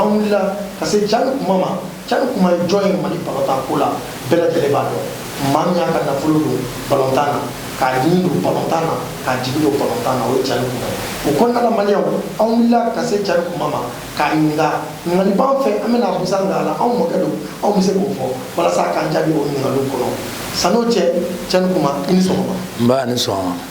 an wulila ka se cani kuma ma cani kuma ye jɔn ye mali balontan ko la bɛɛ lajɛlen b'a dɔn maa min y'a ka nafolo don balontan na k'a ɲini don balontan na k'a jigi don balontan na o ye cani kuma ye o kɔnɔna la maliyɛnw an wulila ka se cani kuma ma k'a ɲininka ɲininkali b'an fɛ an bɛna busan k'a la anw mɔkɛ don anw bɛ se k'o fɔ walasa k'an jaabi o ɲininkaliw kɔnɔ san'o cɛ cani kuma i ni sɔgɔma nba ni sɔgɔma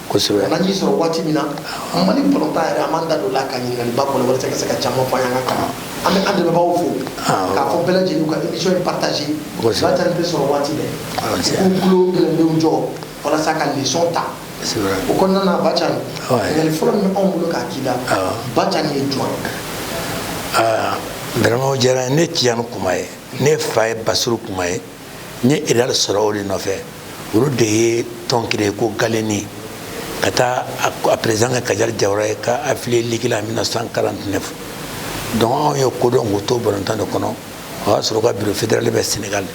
kosɛbɛ an nan'i sɔrɔ waati min na mali balontan yɛrɛ an m'an da don o la ka ɲininkaliba kɔnɔ walasa ka se ka caman fɔ an ka kalan an bɛ an dɛmɛbaaw fo k'a fɔ bɛɛ lajɛlen ka émission in partager kosɛbɛ ba cani tɛ sɔrɔ waati bɛɛ k'u tulo gɛlɛnlenw jɔ walasa ka leçon ta o kɔnɔna na ba cani ɲininkali fɔlɔ min b'anw bolo k'a k'i la ba cani ye jɔn ye vraiment o diyara n ye ne tijani kuma ye ne fa ye basiru kuma ye n ye réal sɔrɔ o de nɔfɛ olu de ye tɔn créer ko galeni ka taa a perezidan kɛ kajali jawara ye ka afiliye liki la 1949 donc anw ye ko dɔn k'u to balontan de kɔnɔ o y'a sɔrɔ ka biro federali bɛ senegal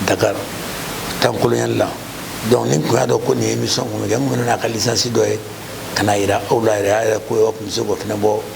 dakar tan kolonyali la donc ni n kun y'a dɔn ko nin émission kun bɛ kɛ n kun bɛ n'a ka lisansi dɔ ye ka n'a yira aw la yɛrɛ a yɛrɛ ko yɔrɔ tun bɛ se k'o fana bɔ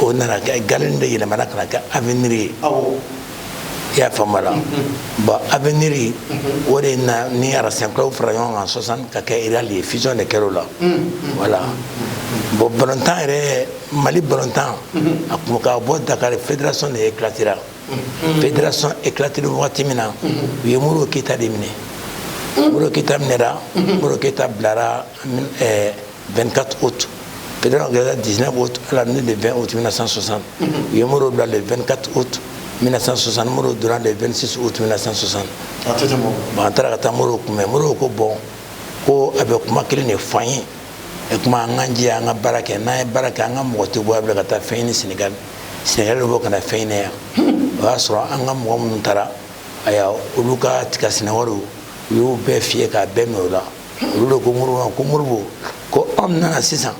o nana kɛ galeni de yɛlɛmana ka na kɛ avenir ye i y'a faamu la bon avenir o de na ni racing club fara ɲɔgɔn kan 60 ka kɛ réal ye fusion de kɛra o la voilà bon balontan yɛrɛ mali balontan a kun ka bɔ dakar fédération de éclatera fédération éclatera wagati min na u ye modibo keyita de minɛ modibo keyita minɛra modibo keyita bilara 24 août fédération kɛra 19 août à la nuit de 20 août 1960 u ye modibo bila le 24 août 1960 modibo donna le 26 août 1960 bon an taara ka taa modibo kunbɛn modibo ko bon ko a bɛ kuma kelen de fɔ an ye e kuma an k'an jija an ka baara kɛ n'an ye baara kɛ an ka mɔgɔ tɛ bɔ a bila ka taa fɛn ɲini senegali senegali bɔ ka na fɛn ɲini yan o y'a sɔrɔ an ka mɔgɔ minnu taara aya olu ka tiga sɛnɛ wariw u y'u bɛɛ fouiller k'a bɛɛ minɛ u la olu de ko modibo ma ko modibo ko anw nana sisan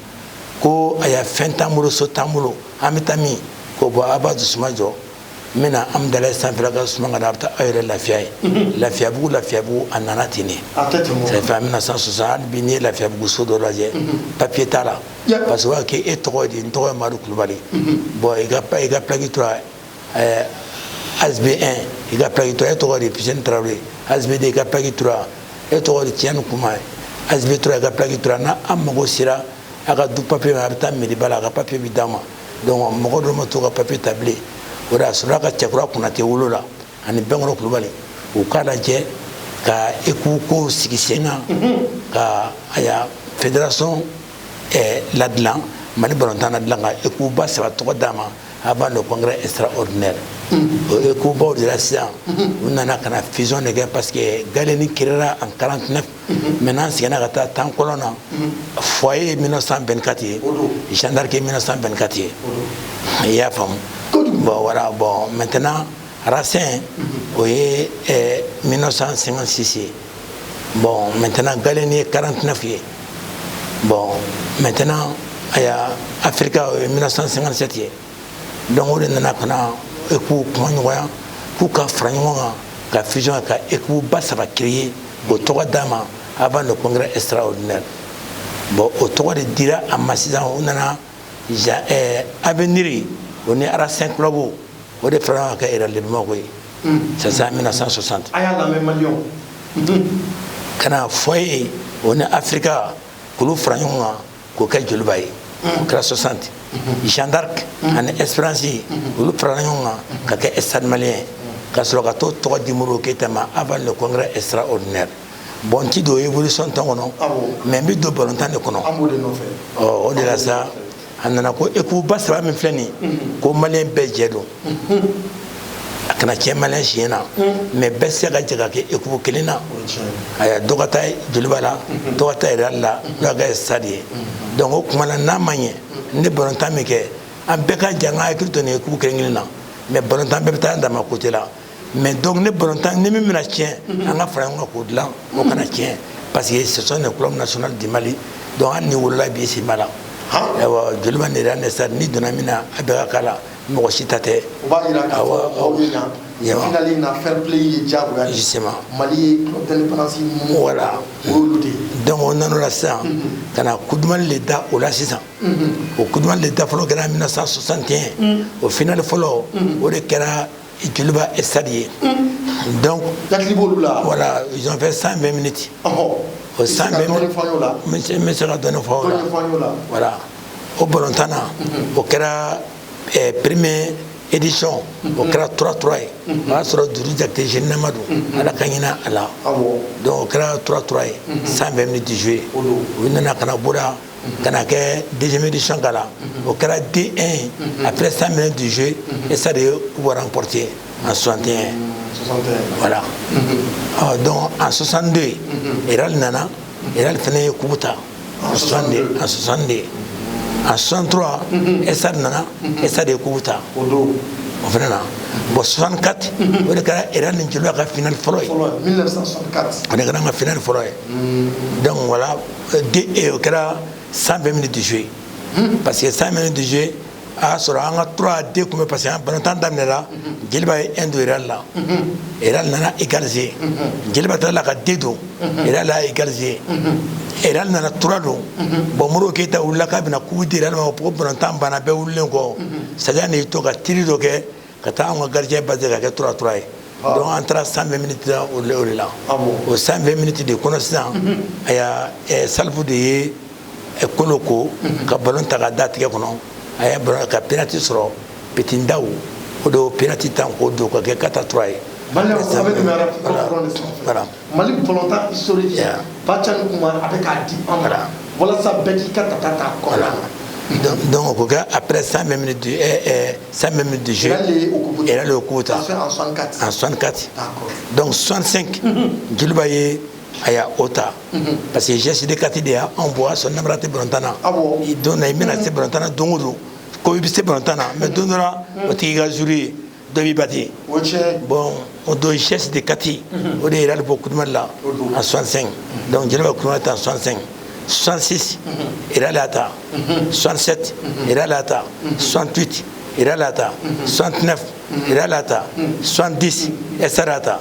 ko aya fɛn t'an bolo so t'an bolo an bɛ taa min ko bon a b'a dusuma jɔ n bɛna hamdallaye sanfɛla ka suma ka da a bɛ taa aw yɛrɛ lafiya yen mhm. lafiyabugu lafiyabugu a nana ten de ça fait en 1960 hali bi n'i ye lafiyabugu so dɔ lajɛ mhm. papiye t'a la parce que o b'a kɛ e tɔgɔ ye di n tɔgɔ ye madu kulubali mhm. bon i ka i ka pilaki tora ɛɛ asb 1 i ka plaki tura e tɔgɔ de pisɛni tarawele asb 2 i ka plaki tura e tɔgɔ de tijani kuma ye asb 3 i ka plaki tura na an mago sera a ka du papiye ma a bɛ taa meriba la a ka papiye bɛ d'a ma donc mɔgɔ dɔ ma to ka papiye ta bilen o de a sɔrɔla ka cɛkura konatɛ wolo la ani bɛnkɔrɔ kulubali u ka lajɛ ka ekipu ko sigi sen kan ka aya federation eh, ladilan mali balontan ladilan ka ekipu ba saba tɔgɔ d'a ma avant le congrès extraordinaire o ekipu baw de la sisan u nana ka na fusion de kɛ parce que Gallieni créera en 49 maintenant an seginna ka taa temps colon na foyer ye 1924 ye Jeanne d'Arc ye 1924 ye i y'a faamu bon voilà bon maintenant Racing o ye 1956 ye bon maintenant Gallieni ye 49 ye bon maintenant aya Africa o ye 1957 ye donc o de nana ka na ekipu kuma ɲɔgɔnya k'u ka fara ɲɔgɔn kan ka fusion ka ekipu ba saba créer k'o tɔgɔ d'a ma avant le congrès extraordinaire bon o tɔgɔ de dira a ma sisan o nana avenir o ni Racing club o de fara ɲɔgɔn kan ka kɛ Real de Bamako ye c'est ça 1960 a y'a lamɛn maliyɛnw ka na foyer o ni Africa k'olu fara ɲɔgɔn kan k'o kɛ joliba ye o kɛra 60 Jeanne d'Arc ani Espérance olu farala ɲɔgɔn kan ka kɛ Stade Malien ka sɔrɔ ka t'o tɔgɔ di modibo keyita ma avant le congrès extraordinaire bon n ti don évolution tɔn kɔnɔ mais n bi don balontan de kɔnɔ o de la sa a nana ko ekipu ba saba min filɛ nin ko maliyɛn bɛɛ jɛ don a kana tiɲɛ maliyɛn si ɲɛ na mais bɛɛ se ka jɛ ka kɛ ekipu kelen na aya dɔ ka taa joliba la dɔ ka taa Real la dɔ ka kɛ stade ye donc o kuma na n'a ma ɲɛ ne balontan min kɛ an bɛɛ ka jɛ an ka hakili to nin ekipu kelen kelen na mais balontan bɛɛ bɛ taa an dama côté la mais donc ne balontan ni min bɛna tiɲɛ an ka fara ɲɔgɔn kan k'o dilan o kana tiɲɛ parce que ce sont les clubs nationaux du Mali donc hali n'i wolola bi si ma la ayiwa joliba ni Real ni stade n'i donna min na a bɛɛ ka k'a la mɔgɔ si ta tɛ o b'a jira k'a fɔ aw ye yan Yɛwa. finali in na fair play ye diyagoya de ye. Justement. mali ye club d'indépendance minnu Voilà. o y'olu de ye donc o nan'o la sisan ka na Coupe du Mali le da o la sisan o Coupe du Mali le da fɔlɔ kɛra 1961 o finali fɔlɔ o de kɛra joliba stade ye donc latili b'olu la voilà ils ont fait 120 minutes ɔhɔ o 120 minutes n bɛ se ka dɔɔni fɔ o la voilà o balontan na o kɛra eh, première édition o kɛra 3-3 ye o y'a sɔrɔ dudu jakite jeune nama don ala ka hinɛ a la donc o kɛra 3-3 ye 120 minutes joué u nana ka na bɔda ka na kɛ deuxième édition k'a la o kɛra 2 1 ye après 100 minutes de jeu Stade ye coupe remporter en 61 voilà ɔ donc en 62 Real nana Real fana ye coupe ta en 62 en 62 en 63 Stade nana Stade ye coupe ta o don o fana na bon 64 o de kɛra Real ni Joliba ka finale fɔlɔ ye o de kɛra an ka finale fɔlɔ ye donc voilà o kɛra san bɛɛ minɛ de ye parce que san minɛ de ye a y'a sɔrɔ an ka tura den tun bɛ parce que an banatan daminɛra jeliba ye endo yɛrɛ la e nana i garize jeliba taara la ka den don e la i garize e nana tura don bɔn mori keyita wulila k'a bɛna kubi di ma ko banatan banna bɛɛ wulilen kɔ saya y'i to ka teri dɔ kɛ ka taa an ka gardien basi ka kɛ 3 3 ye ah. donc an taara 120 miniti la o de la ah o 120 miniti de kɔnɔ sisan mhm. a y'a eh, Salifu de ye eh, kolo ko mhm. ka balon ta ka da tigɛ kɔnɔ a y'a balon ka penalty sɔrɔ Petit Ndaw o de y'o penalty tan k'o don ka kɛ 4 3 ye. Mali kɔnɔta sori ba ca ni kuma a bɛ k'a di an mara walasa bɛɛ k'i ka taa taa kɔ la dɔn ko kɛ a bɛ san san bɛ min dusu yɛrɛ kota a san kati dɔnku sonsen jeliba ye a y' o ta parce que jɛsi de kati de y' anw bɔ a sɔn nara tɛ btanna dɔn i bɛna se btana don don ko i bɛ se btana mɛ don dɔ o t' i ka zuru ye dɔ b'i bati bɔn o don sɛsi de kati o de yɛrɛ bɔ kuduma la a sɔnsɛn donc jɛnɛba kuma ta sɔnsɛn 66 ira la ta 67 ira la ta 68 ira la ta 69 ira la ta 70 esa la ta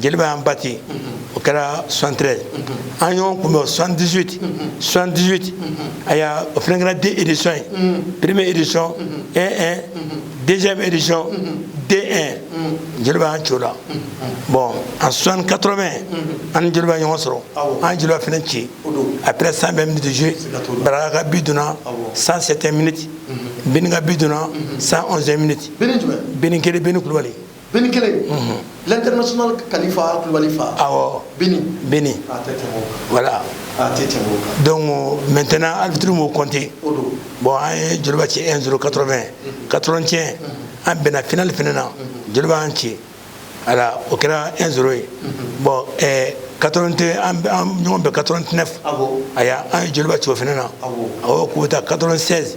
Joliba y'an bati o kɛra 73 an ɲɔgɔn kunbɛn 78 78 a y'a o fana kɛra 2 éditions ye première édition 1 1 deuxième édition 2 1 Joliba y'an ci o la bon en 80 an ni Joliba ɲɔgɔn sɔrɔ an Joliba fana ci après 120 minutes de jeu Baraka ka bi donna 107 minutes Bini ka bi donna 111 minutes Bini kelen Bini Kulubali Bini kelen in, unhun, l'international Kalifa Kulubali fa, awɔ, Bini, Bini, a tɛ tɛmɛ o kan, voilà, a tɛ tɛmɛ o kan, donc maintenant arbitre m'o compter, o don, bon an ye Joliba ci 1 0 80 81 an bɛnna finale fana na Joliba y'an ci a la o kɛra 1 0 ye bon ɛɛ 81 an bɛ an ɲɔgɔn bɛn 89 awɔ, a y'a an ye Joliba ci o fana na awɔ, awɔ coupe ta 96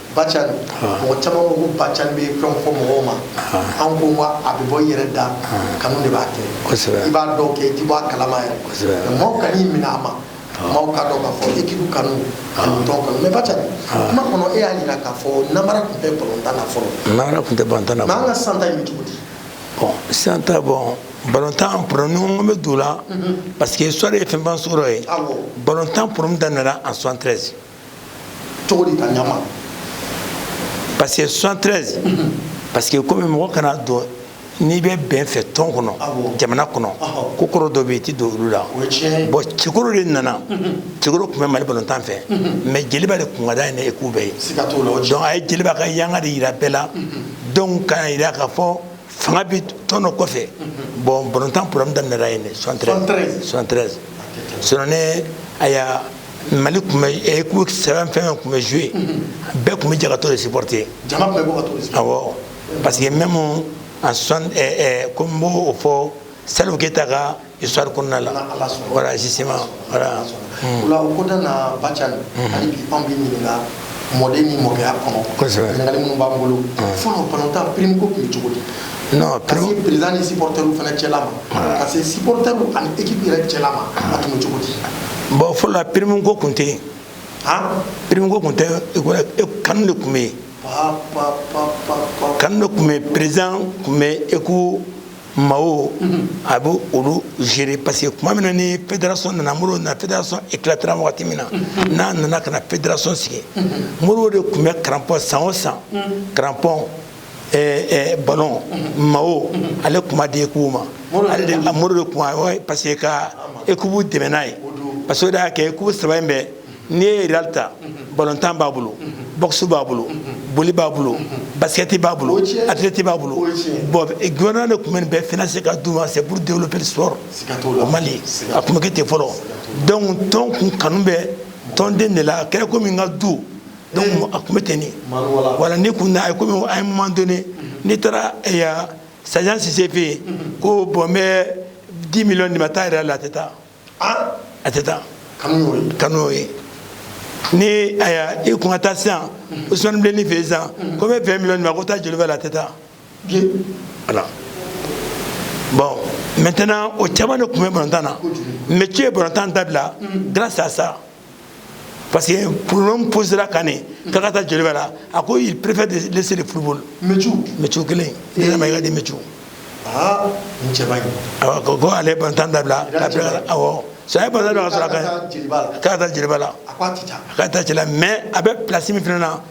Bacani mɔgɔ caman ko ko Bacan bɛ fɛn fɔ mɔgɔw ma an ko wa a bɛ bɔ i yɛrɛ da kanu de b'a kɛ i b'a dɔw kɛ i tɛ bɔ a kalama yɛrɛ maaw kan'i minɛ a ma maaw ka dɔn k'a fɔ équipe kanu ani tɔn kanu mais Bacani kuma kɔnɔ e y'a yira k'a fɔ namara tun tɛ balontan na fɔlɔ namara tun tɛ balontan na mais an ka san ta in bɛ cogo di bon san ta bon balontan problème o bɛ don la parce que histoire ye fɛn ban sɔrɔ ye balontan problème daminɛna en 73 cogo di ka ɲama parce que 73 parce que komi mɔgɔ kana don n'i bɛ bɛn fɛ tɔn kɔnɔ jamana kɔnɔ ko kɔrɔ dɔ bɛ yen i tɛ don olu la bon Cɛkɔrɔ de nana Cɛkɔrɔ tun bɛ Mali balontan fɛ mais Jeliba de kun ka d'a ye ni équipe bɛɛ ye donc a ye Jeliba ka yanga de yira bɛɛ la donc k'a yira k'a fɔ fanga bɛ tɔn dɔ kɔfɛ bon balontan problème daminɛra yen de 73 73 sinon ne a y'a Mali tun bɛ équipe saba fɛn fɛn tun bɛ jouer bɛɛ tun bɛ jɛ ka t'o de supporter awɔ parce que même en soixante eh, eh, comme n b'o fɔ Salif Keita ka histoire kɔnɔna la voilà justement voilà o la o kɔnɔna na Bacani hali bi anw b'i ɲininka mɔden ni mɔkɛya kɔnɔ ɲininkali minnu b'an bolo fɔlɔ balontan prime ko tun bɛ cogo di non ka se président ni supporters fana cɛla ma ka se supporters ani équipe yɛrɛ cɛla ma a tun bɛ cogo di bon fɔlɔ la prime ko tun tɛ yen prime ko tun tɛ kanu de tun bɛ yen kanu de tun bɛ yen président tun bɛ équipe maaw a bɛ olu gérer parce que tuma min na ni fédération nana Modibo nana fédération éclatera wagati min na n'a nana ka na fédération sigi Modibo de tun bɛ crampon san o san crampon ballon maillot ale tun b'a di équipe ma ale de Modibo de tun b'a parce que ka équipe dɛmɛ n'a ye parce que o de y'a kɛ équipe saba in bɛɛ n'i ye Real ta balontan b'a bolo boxe b'a bolo boli b'a bolo basket b'a bolo athlète b'a bolo bon gouvernement de tun bɛ nin bɛɛ financer ka d'u ma c'est pour développer le sport au Mali a tun bɛ kɛ ten fɔlɔ donc tɔn kun kanu bɛ tɔnden de la a kɛra komi n ka du donc a tun bɛ ten de voilà ni kun na a ye komi à un moment donné n'i taara yan Sajan Sise fɛ yen ko bon n bɛ 10 millions d'i ma taa Real la a tɛ taa a tɛ taa kanu y'o ye ni aya i kun ka taa sisan Ousmane Bilenni fɛ sisan ko n bɛ 20 millions d'i ma ko taa Joliba la a tɛ taa voilà bon maintenant o caman de tun bɛ balontan na Métiou ye balontan dabila grâce à ça parce que problème posera kan ne k'a ka taa Joliba la a ko il préfère de laisser le football Métiou Métiou kelen na Maïga dit Métiou aa n cɛ man ɲi awɔ ko ko ale ye balontan dabila k'a bila awɔ so a ye balontan dabila ka sɔrɔ a ka k'a ka taa Jeliba la a k'a tɛ taa a k'a taa cɛ la mais a bɛ place min fana na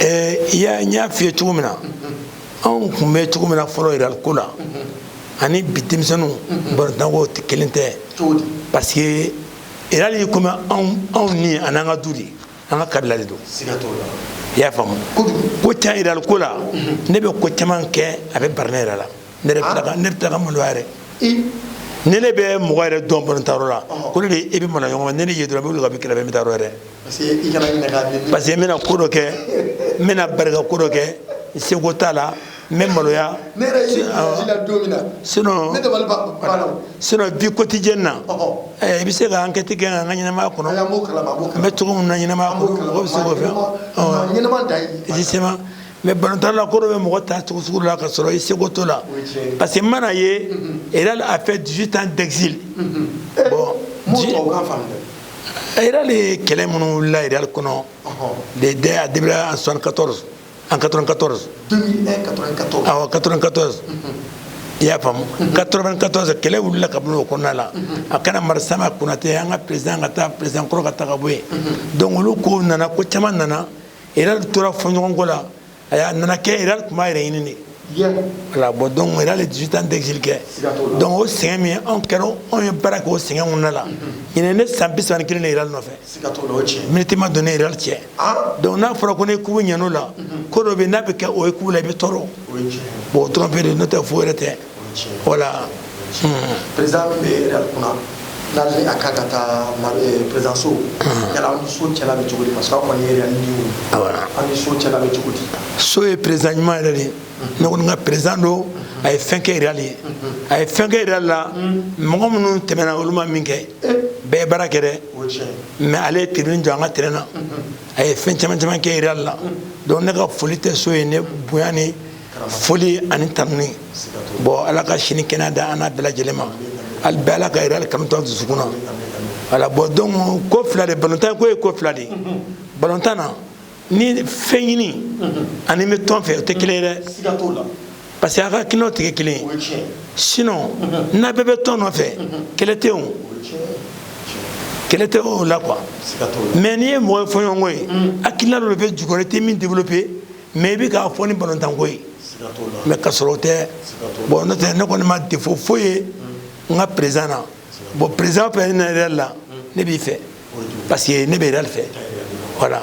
ɛɛ ya n y'a f'i ye cogo min na anw tun bɛ cogo min na fɔlɔ Real ko la ani bi denmisɛnninw balontanko kelen tɛ parce que Real ye komi anw ni a n'an ka du de an ka kabila de don i y'a faamu ko ca Real ko la ne bɛ ko caman kɛ a bɛ bara ne yɛrɛ la ne bɛ tila ka maloya yɛrɛ ne ne bɛ mɔgɔ yɛrɛ dɔn balontanyɔrɔ la ko ne de i bɛ mana ɲɔgɔn ne ne ye dɔrɔn n bɛ wuli ka bɛ kɛlɛ bɛ bɛ taayɔrɔ yɛrɛ parce que n bɛna ko dɔ kɛ n bɛna bari ka ko dɔ kɛ n seko t'a la n bɛ maloya sinon vie quotidienne na i bɛ se ka enquête kɛ an ka ɲɛnamaya kɔnɔ n bɛ cogo min na ɲɛnamaya kɔnɔ mɔgɔ bɛ se k'o fɛn effectivement mais balontan na ko dɔ bɛ mɔgɔ ta cogo sugu la ka sɔrɔ i seko t'o la parce que mana ye Real a fait 18 ans d'exil bon Real ye kɛlɛ minnu wulila Real kɔnɔ de dɛ a débuté en 74 en 94 awɔ 94 i y'a faamu 94 kɛlɛ wulila ka bɔ o kɔnɔna la a kana marisama konate an ka président ka taa président kɔrɔ ka taa ka bɔ yen donc olu ko nana ko caman nana Real tora fɔɲɔgɔnko la a y'a nana kɛ Real tun b'a yɛrɛ ɲini de voilà bon donc Real ye 18 ans d'exil kɛ donc o sɛgɛn min anw kɛra anw ye baara kɛ o sɛgɛn kɔnɔna la ɲinan ne san bi saba ni kelen ne Real nɔfɛ miniti ma don ne ni Real cɛ donc n'a fɔra ko ne kubu ɲɛn'o la ko dɔ bɛ n'a bɛ kɛ o ye kubu la i bɛ tɔɔrɔ bon o dɔrɔn pe de n'o tɛ foyi wɛrɛ tɛ voilà président min bɛ Real kunna n'ale a ka ka taa président Sow yala aw ni Sow cɛla bɛ cogo di parce que aw kɔni Real ni aw ni Sow cɛla bɛ cogo di Sow ye président ɲuman yɛrɛ de ne kɔni ka président don a ye fɛn kɛ Real ye a ye fɛn kɛ Real la mɔgɔ minnu tɛmɛna olu ma min kɛ bɛɛ ye baara kɛ dɛ mais ale ye tribune jɔ an ka terrain na a ye fɛn caman caman kɛ Real la donc ne ka foli tɛ Sow ye ne bonya ni foli ani tanuni bon ala ka si ni kɛnɛya da an n'a bɛɛ lajɛlen ma ali bɛɛ ala ka Real kanu to a dusukun na voilà bon donc ko fila de balontan ko ye ko fila de balontan na ni fɛn ɲini ani bɛ tɔn fɛ o tɛ kelen ye dɛ parce que a ka hakilinaw tɛ kɛ kelen ye sinon n'a bɛɛ bɛ tɔn nɔfɛ kɛlɛ tɛ yen kɛlɛ tɛ o la quoi mais n'i ye mɔgɔ ye fɔɲɔgɔnko ye hakilina dɔ de bɛ jukɔrɔ i tɛ min développer mɛ i bɛ k'a fɔ ni balontanko ye mɛ ka sɔrɔ o tɛ bɔn n'o tɛ ne kɔni ma defo foyi ye n ka perezan na bɔn perezan fɛ ne yɛrɛ la ne b'i fɛ parce que ne bɛ yɛrɛ fɛ wala